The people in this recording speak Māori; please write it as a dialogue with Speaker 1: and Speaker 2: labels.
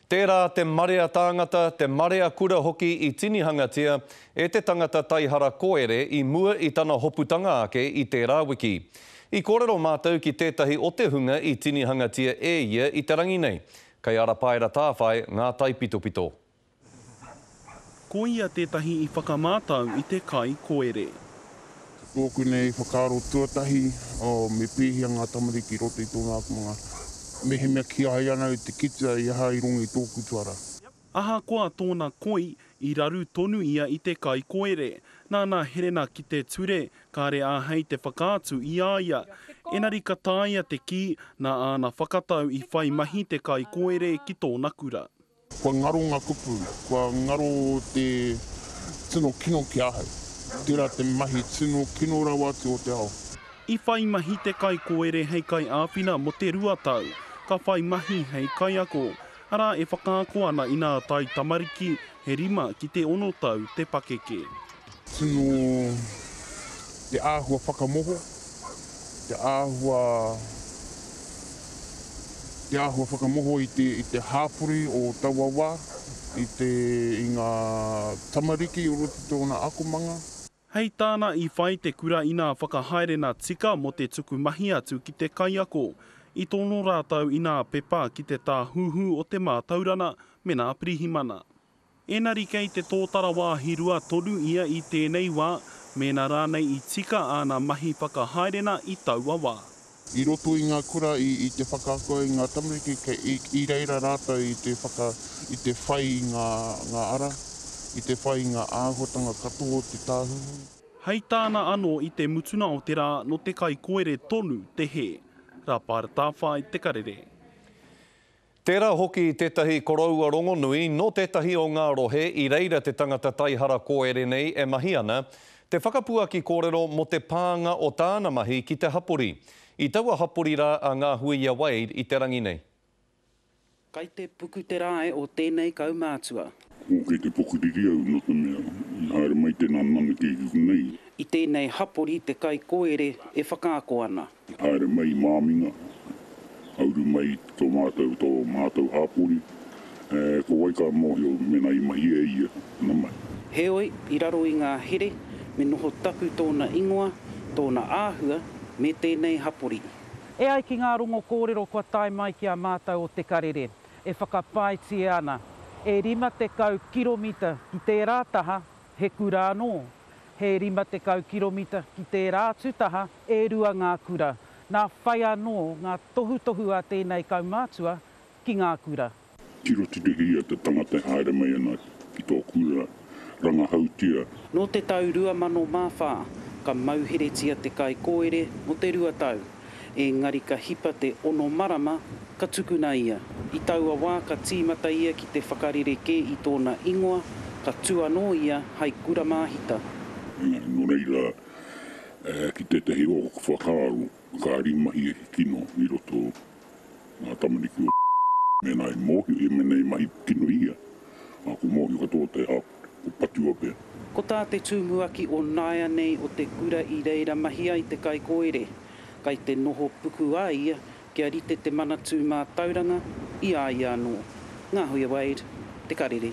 Speaker 1: Tērā te marea tāngata, te marea kura hoki i tinihangatia e te tangata taihara koere i mua i tana hoputanga ake i tērā wiki. I kōrero mātou ki tētahi o te hunga i tinihangatia e ia i te rangi nei, kei Arapaera Tāwhai ngā taipitopito.
Speaker 2: Ko ia tētahi i whakamātau i te kai koere. Tōku
Speaker 3: nei whakaaro tuatahi, me pēhea ngā tamariki i roto i tōna akomanga, mehemea kīa ai ana e te kitea i aha i rongo i tōku tuara. Ahakoa
Speaker 2: tōna koi, i raru tonu ia i te kai koere. Nāna Herena ki te ture, kāre āhei te whakaatu i a ia. Engari ka taea te kī, nā āna whakatau i whai mahi te kai koere ki tōna kura. Kua ngaro ngā
Speaker 3: kupu, kua ngaro te tino kino ki ahau. Tērā te mahi tino kino rawa atu o te ao. I whai mahi
Speaker 2: te kaikōere hei kaiāwhina mō te rua tau, ka whai mahi hei kaiako, arā e whakaako ana inā tae tamariki, he rima ki te ono tau te pakeke. Tino
Speaker 3: te āhua whakamoho, te āhua, te āhua whakamoho i te, i te hāpori o taua wā, i te, i ngā tamariki o roto i tōna akomanga. Hei tāna
Speaker 2: i whai te kura inā whakahaerena tika mō te tuku mahi atu ki te kaiako. I tono rātou inā pepa ki te tāhuhu o te mātaurana me nā pirihimana. Ēnari kei te tōtara wāhi rua tonu ia i tēnei wā, mēnā rānei i tika āna mahi whakahaerena i taua wā. I roto i ngā
Speaker 3: kura i te whakaako i ngā tamariki i reira rātou i te whaka, i te whai i ngā ara, i te whai i ngā āhuatanga katoa o te Tāhuhu. Hei tāna
Speaker 2: anō i te mutunga o te rā nō te kaikoere tonu te hē. Rapa Tāwhai te karere.
Speaker 1: Tērā hoki tētahi koroua rongonui nō tētahi o ngā rohe i reira te tangata taihara kōere nei e mahi ana, te whakapuaki kōrero mō te pānga o tāna mahi ki te hapori. I taua hapori rā a Ngāhuia Wade i te rangi nei. Kai
Speaker 4: te puku te rae o tēnei kaumātua. Ko kei te
Speaker 5: pokeriri au no te mea i haere mai tēnā mana ki riku nei. I tēnei
Speaker 4: hapori te kaikōere e whakaako ana. I haere mai i
Speaker 5: māminga, ka uru mai to mātou, to mātou hapori, e, ko wai ka mōhio mēnā i mahi e ia, ana mai. Heoi, i raro
Speaker 4: i ngā here, me noho tapu tōna ingoa, tōna āhua, me tēnei hapori. E ai ki ngā
Speaker 6: rongo kōrero kua tae mai ki a mātou o Te Karere, e whakapaetia ana e 50 kiromita ki tērā taha he kura anō, he 50 kiromita ki tērā atu taha e rua ngā kura, nā whai anō ngā tohutohu a tēnei kaumātua ki ngā kura. Tiro tirohia
Speaker 5: te tangata e haere mai ana ki tō kura, rangahautia. Nō te tau
Speaker 4: 2004, ka mauheretia te kaikōere mō te rua tau. engari ka hipa te ono marama ka tukuna ia. I taua wā ka tīmata ia ki te whakarerekē i tōna ingoa, ka tū anō ia hai kura māhita. Nō
Speaker 5: reira, ki tētahi o aku whakaaro, ka rimahia he kino i roto ngā tamariki o mēnā i mōhio ia, mēnā i mahi tino i ia, ko mōhio katoa te hao. o Patuapea. Ko tā te
Speaker 4: tūmuaki o nāianei o te kura i reira mahi ai te kaikōere, kai te noho puku a ia kia rite te Manatū Mātauranga i a ia anō. Ngā Huia Wade, Te Karere.